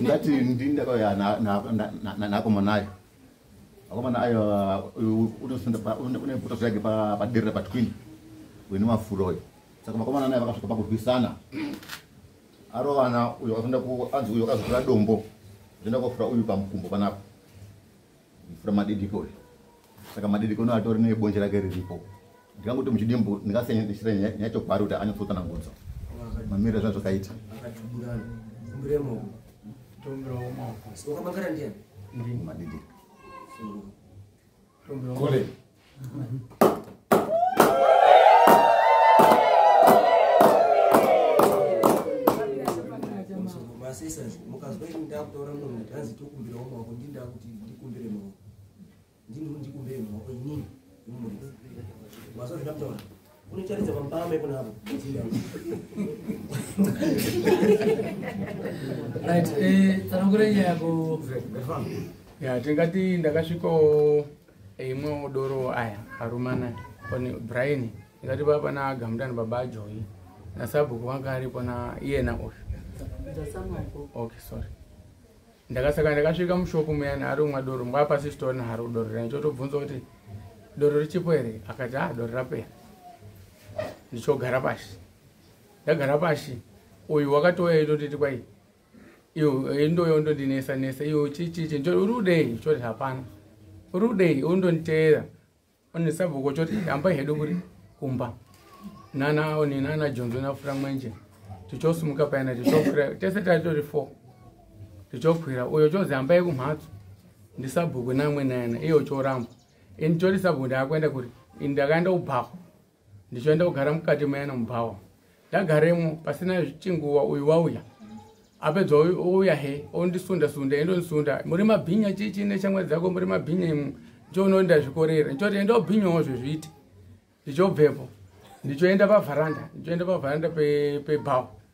ndati ndindakayanaakomana ayo akomana ayo unebuto zvake paderera patwin wene mafuro oyo saka makomana nayo vakasvika pakurwisana arovana uyo azoenda kuanzi uyo akazotora dombo zvoenda kofura uyu pamukumbo panapo mvura madidiko uyu saka madidiko no atori nebonje rake riripo ndikangoti muchidimbu ndingasenyesira nyaya chokwari kuti anyatsotsanangudzo mamiro zva zvakaita madidiko unotaridza pambame kunavo right eh, tsanangura nyaya yako ya tingati ndakasvikawo imwewo doro aya arumana one brian ingati baba na gamdani baba ajoyi na sabhuku wanga aripo na iyena uyu okay sorry ndakasaka ndakasvika mushopu muyani ari umwa doro mbwa pasi sitore naro doro rani chotobvunza kuti doro richipo here akati a ah, doro rapera ndichogara pashi ndagara pashi uyu wakatouya itotiti kwai iyo ndoyo ndondinesa nesa iyo chichichi njo uri kudei choti hapana uri kudei undonditeera one sabhuku choti hambai hedu kuri kumba nana one nana jonzo nafura mwenje tichosumuka payana tichokwira tese tatori four tichokwira uyo chozi hambai kumhatso ndisabhuku namwe nayana iyo choramba ini choti sabhuku ndaakuenda kuri ini ndakaenda kubhaho ndichoenda kugara mukati mayana mubhawa ndagaremo pasina chinguva uyu wauya apedza ouya he ondisunda sunda endondisunda muri mabhinya chichi neshamwa dzako muri mabhinya imu ndichoono ndazvikorera ndichoti enda obhinyawo zvezviti ndichobvepo ndichoenda pavharanda ndichoenda pavharanda pebhawa pe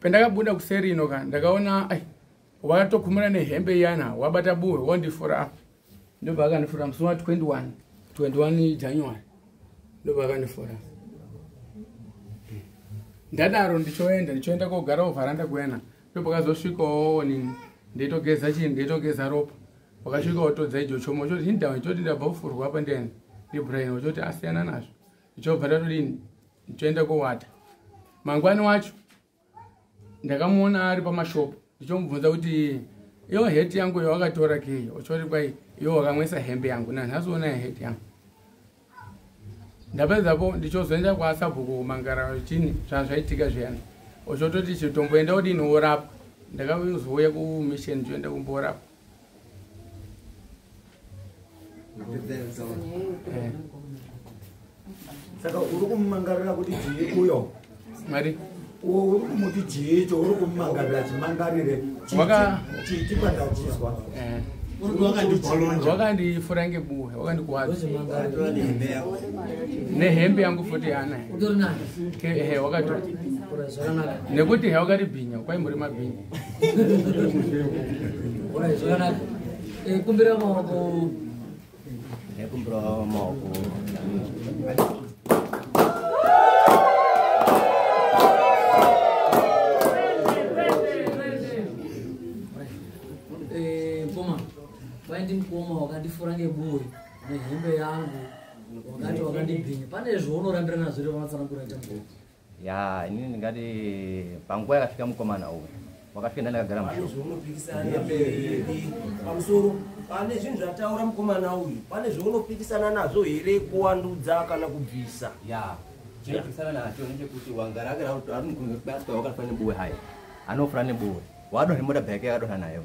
Pendakabuda kuseri ino ka ndakaona ai watokumura nehembe iyana wabata buwe wondifura apa. Ndobva akandifura musi wa 21 21 January ndobva akandifura. Ndadaro ndichoenda ndichoenda kogara ovharanda kuena ndobva kazosvikawo nini ndeitogeza chii ndeitogeza ropa wakasvika otodza ijo chomo choti hindawa choti ndabva kufurwa apa ndiani ndibrain ochoti asiyana nazvo ndichobva tatodini ndichoenda kowata mangwani wacho ndakamuona ari pamashopu ndichomubvunza kuti iyo het yangu iyo wakatora kei ochoti kwai iyo wakamwesa hembe yangu nanhasi ona het yangu ndapedzapo ndichozoenda kwaasabhuku kumangara chini zvazvaitika zviyani ochototi chitomboenda odini worapwa ndakazouya kumission ndichoenda kumborapwa saka uri kumumangarira kuti jii uyo mari uwo uri kumuti jii cho uri kumumangarira chimangarire chiti pandachizwa eh. wakandifura ngebuwe wakandikuwadza nehembe yangu futi yanaye wakati nekuti he wakati bhinya kwaimburi mabhinya Alright, zvakanaka. Eh, kumbira maoko. Eh, kumbira maoko. Eh, koma. Vaindi mkoma wakandifura ngebuwe nehembe yangu wakati wakandibhinya pane zvaunorambira nazvo revanatsanangura chambo ya inini ndingati panguva yakafika mukomana uyu wakafika ndandakagara pamusoro pane zvinhu zvataura mukomana uyu pane zvaunopikisana nazvo here kuwandudza kana kubvisa ya chinopikisana nacho ndechekuti wangara agara arimukuaswa wakafana nebuwe haya anofana nebuwe wadonha mota bhake yakadonha nayo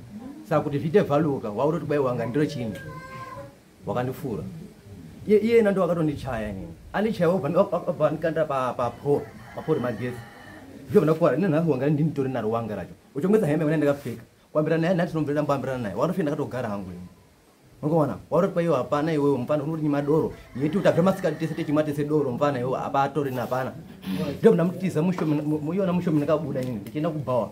saka kuti zviite vhaluka wauroti kwai wanga ndiro chini wakandifura iye iyena ndo akatondichaya inini andichaya obva andikanda papor papor magesi ndovana kuvara ine nhasi wanga ndinitori naro wanga racho uchongesa hembe kana ndakapfeka kuambirana naye nhati nomvera mboambirana naye wakatofika ndakatogara hangu ini ungoona wauroti paiwe hapana iwewe mfana unoti nyima doro yeti kuti abva masikati tese techimwa tese doro mfana iwewe hapa atorina hapana ndovana mutiza mushomiyona mushomi ndakabuda inini ndichienda kubhawa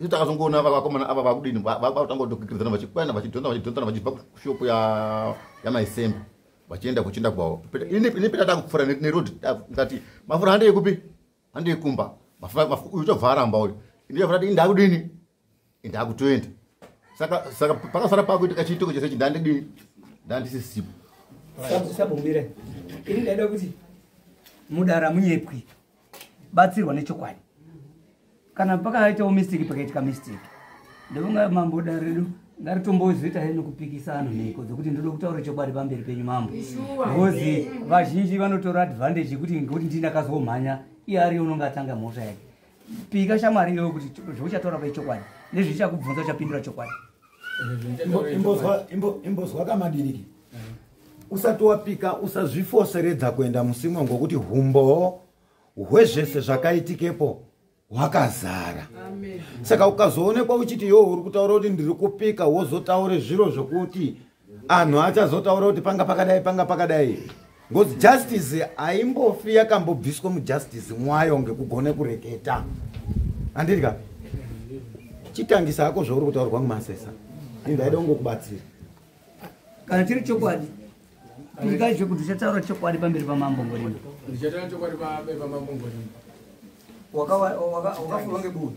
isu takazongoona vakomana ava vakudini vakutanga kutokikiridzana vachikwana vachidhonzana vachidhonzana vachibva kushopu yamaisembe vachienda kuchinda kwavo ini peta takupfuura neroad ngati mafura handei kupi handei kumba uyu tobva aramba uyu ini tobva tati indakudini indakutoenda saka saka pakasara pakuitika chiitiko chese chi ndandidini ndandisisipo sabomire ini ndaida kuti mudara munyepwi batsirwa nechokwadi kana pakaitawo mistake pakaitika mistake ndovanga mambo da redu ndaritombozoita hee nokupikisano mhiko dzokuti ndoda kutaura chokwadi pamberi penyu mambo bcause vazhinji vanotora advantage yekuti ngekuti ndinakazomhanya iye ariyo unonge atanga mhosva yake pika shamwari iyoyo kuti zvauchataura paichokwadi nezvichakubvunza uchapindura chokwadi imbozwa kamadiriki usati wapika usazvifoseredza kuenda musimwa ngokuti humbowo hwezvese zvakaitikepo hwakazara saka ukazoonekwa uchiti yoo uri kutaura kuti ndiri kupika wozotaure zviro zvokuti anhu achazotaura kuti panga pakadai panga pakadai ngozi justice haimbofi yakambobviswa mujustice mwayo ngekugone kureketa handiri ka chitangisa hako zvauri kutaurwa mumasesa indaida kungokubatsira kana chiri chokwadi ikai zvekuti uchataura chokwadi pamberi pamambo ngorimba wakafurwa ngebuvi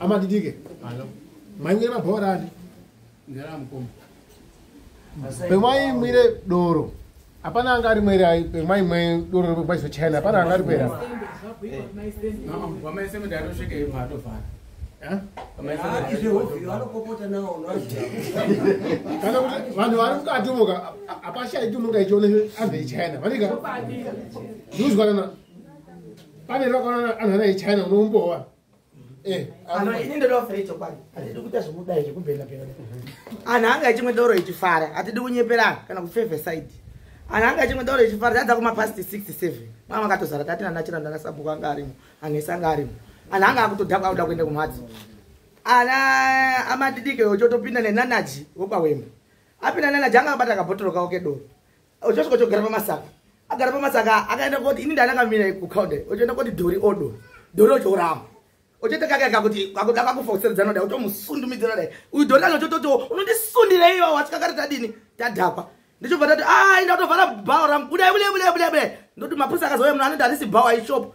amadidike maimwire mabhora ani pemaimwire doro hapana anga ari mwere ai pemaimwe doro rekwaiso china hapana anga ari kwera kana kuti vanhu vari mukati moka hapashaiti unonga ichiona anze ichina vanika ndiuzwanana pane rakaona anhu anaye china unoumbowa eh, ini ndoda kufira ichokwadi hatidi kuita zvekudai zvekubhenabhena anhu anga achimwe doro ichifara hatidi kunyeperana kana kufevhe side anhu anga achimwe doro ichifara tadza kumapasti 67 mama akatozara tati nanachira ndanasabhuku anga arimo anhesi anga arimo anhu anga akutodhakwa akuda kuenda kumhatso ana amadidike ochotopinda nenanaji wopawemba apinda nanaji anga abata kabhotoro kawo kedoro uchasvika chogara pamasaka agara pamasaka akaenda koti ini ndanakamira kukaunde uchienda koti dhori odo dhori ochiurama uchiita kakaka kuti akuda kakufa kuseridzana dai utomusundumidzira dai uyu dhori acho chototi unondisundira iyo wasvika kare tadini tadhakwa ndichobva tati a ah, inda utovhara bhawa rangu budai budai budai budai budai ndoti mapurisa akazouya munhu anoti handisi bhawa ishopo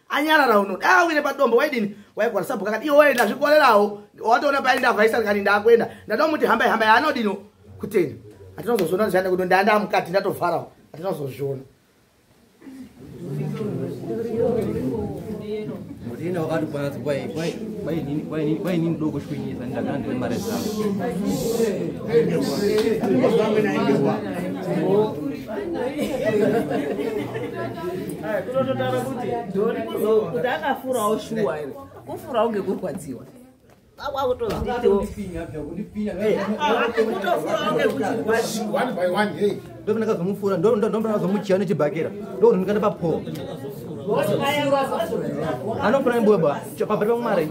anyarara uno dai awire padombo waidini waigwara sabhuku akati iwe waenda zvikorerawo watoona paenda avaisari kani ndakuenda ndatomuti hambai hambai anodino kutenda atinozozviona zvichanda kudo ndaanda mukati ndatovharawo atinozozviona ndina wakati kwanzi kwainini doko chikuinyisa ndagara ndine mari dzangu kutototaura kuti dori kuti akafurawo shuwa ere kufurawo ngekurwadziwa ndokundakazomufura ndombakazomuchiya nechibhakera ndokundikanda papoa anofura nembuya ba pamberi pamwari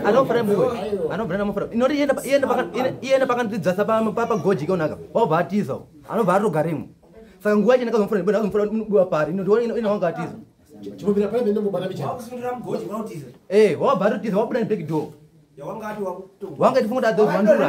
anofara muwe anobvira namofara inoti iyenda pakandidzasa pagoji ikaonaka wabva atiza anobva atogaremo saka nguva yacho ndakazomufura ndibona azomufura duwa pari inowanga atiza ee eh, wabva atotiza wabuda neback door wanga tifunga kuti adzoziwandura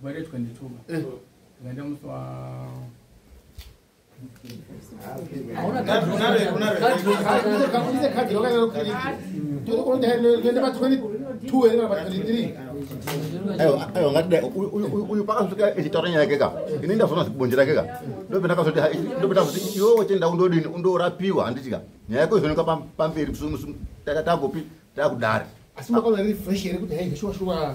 Gwaretwa ndituba. Eh. Ngenda muswa uyu pakasvika echitaura nyaya yake ka ini ndazvona zvibonje rake ka ndopendakazotindopenda kuti iwe wechenda undodini undorapiwa handiti ka nyaya yako izoneka pamberi tagopi takudari asi makaona refresh here kuti hai zveshuwa shuwa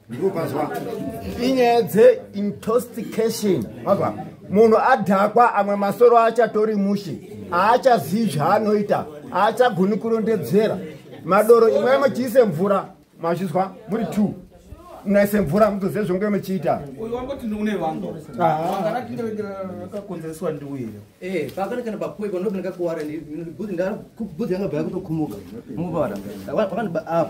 inyaya dzeintostication ava munhu adhakwa amwe masoro achatori mushe aachazivi zvaanoita aachagoni kurondedzera madoro imwe muchiise mvura mazvizwa muri t munaise mvura mutozive zvonge muchiita ah.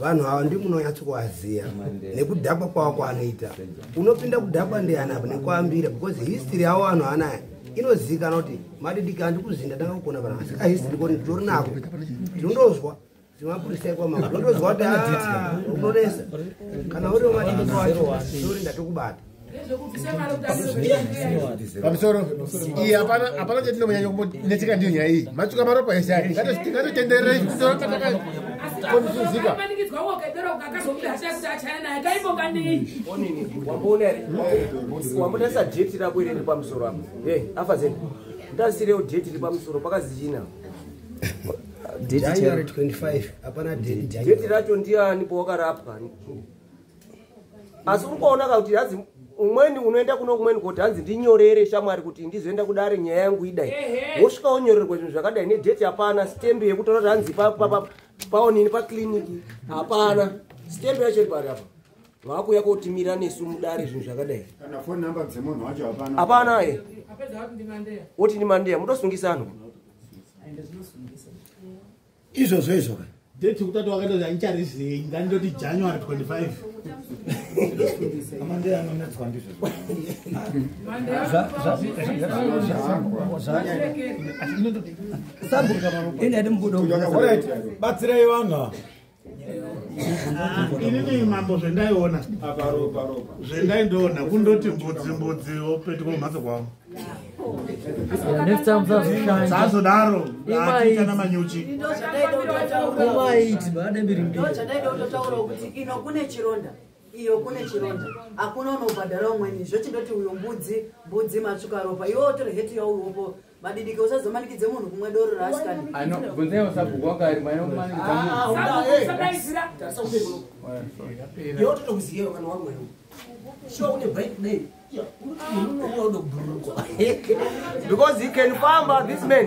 vanhu ava ndimunonyatsokuvaziva nekudhakwa kwavo kwaanoita unopinda kudhakwa ndiani apa nekuambira because history yavo vanhu anaya inozikana kuti madidiki andikuzinda ndanga kugona pana asi kahistory koti nditori nako tinondozwa zvemapurisa ikwa mama ndondozwa kuti ah, unonesa kana uriwo madidiki wacho sori ndatokubata pamusoro iyi hapana hapana chatinomunyanya kumbonetseka ndiyo nyaya iyi matuka maropa ese aya ngatitendererei kudora kataka konifuzika wambotarisa deti rako iri ri pamusoro apo e afa zeni ndasirewo deti ri pamusoro pakazichina deti racho ndiani powakarapwa asi uri kuonaka kuti hanzi umweni unoenda kuno kumweni koti hanzi ndinyorere shamwari kuti ndizoenda kudare nyaya yangu idai wosvika wonyorerwa zvinhu zvakadai nedheti hapana stembe yekutaura kuti hanzi paonini pacliniki hapana stembe yacho iri pari apa vakuuya kotimira nesu mudare zvinhu zvakadai hapana e woti ndimandeya mutosungisanwa izvozvo izvo ka date yekutatu wakaita kuti andicharizei ngandoti january 25 amandei anonetswa ndizvozvo batsirai vanhu ava inini mambo zvendaiona zvendai ndoona kundoti mbudzi mbudzi opetuka kumhatso kwavo next time usazoshanda sazodaro achiita namanyuchi ino kune chironda iyo kune chironda hakuna unobhadhara umweni zvochindoti uyo mbudzi mbudzi matsvuka ropa iwe otore heti yauopo madidike usazomanikidze munhu kumwe doro raasikani yototokuziyewa kana wamwero sure une break name because he can famba this man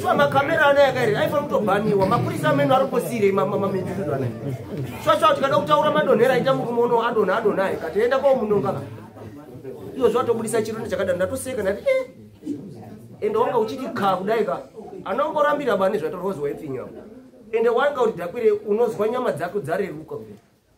swa makamera ano yakairi aifana kutobhaniwa mapurisa ameno ari kosirei mamamendizizvo anayi swa swa tikada kutaura madonhera aita murume uno adonha adonha ayi kati enda kwao munonga ka iyo zvatobudisa chirondo chakadaro ndatoseka ndati e eh. ende wanga uchiti ka kudai ka anongorambira bani zvatorozwa ifinyapo ende wanga kuti dakwire unozwa nyama dzako dzareruka kudai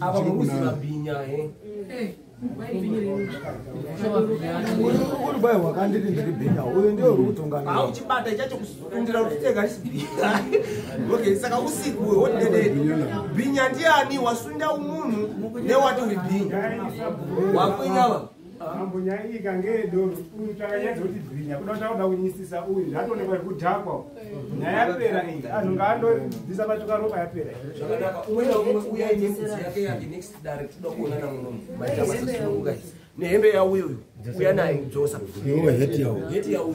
ava muruzi mabhinya he urubai hwakandiri ndiri bhinya uyu ndio uri kutonganaa uchibata ichacho kundira kuti tegarisi bhinya okay saka usiku hotededi bhinya ndiani wasunda umunhu newati uri bhinya wakwinyava Mambo nyaya iyi kange yedoro uyu takanyadza kuti bhinya kuda takuda kunyisisa uyu zvatoonekwa zvekudhakwa nyaya yapera iyi anhu ngaandobvisa patuka ropa yapera zvakanaka umwe naumwe uya ine mudzi yake yake next dare tinoda kuona namunomu maitamasasinokugai nehembe yauyo uyu uya naye kudzosa heti yauyo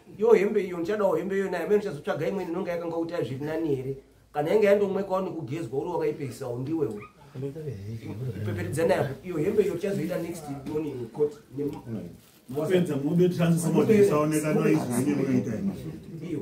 Yo hembe iyo ndichadawo hembe iyo naye amene chazotsvaga imweni inonga yakanga utaya zviri nani here kana yange yandomwekawo nekugezwa uri wakaipeisawo ndiwewe ipeperedza nayo iyo hembe iyo tichazoita next morning court mapedza mube tichazosaoneka noizoine munoita iyo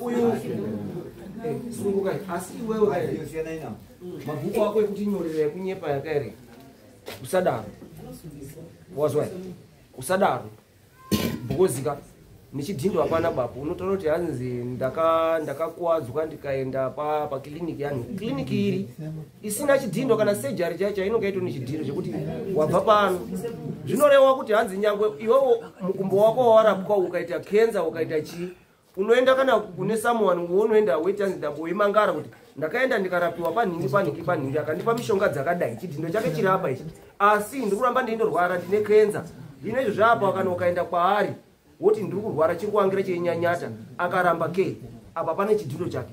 uyu sungukai asi iwewe mabhuku ako ekuti nyorera ekunyepa yakaere usadaro wazwa usadaro bhukozika nechidhindo hapana bapo unotaura kuti hanzi ndakakuwadzwa ndikaenda pakiliniki yanhu kiliniki iri isina chidhindo kana sejari chaicho inonga ito nechidhindo chekuti wabva pano zvinorewa kuti hanzi nyangwe iwewo mukumbo wako wawarapwa ukaita kenza ukaita chii unoenda kana kune someone wounoenda weti anzi dambo wemangara kuti ndakaenda ndikarapiwa panhingi panhingi panhingi akandipa mishonga dzakadai chidhindo chake chiri apa ichi asi ndiri kuramba ndeinorwara ndine kenza zvino izvo zvaapa kana ukaenda kwaari woti ndiri kurwara chiri kuangira cheinyanyata akaramba ke apa pane chidhindo chake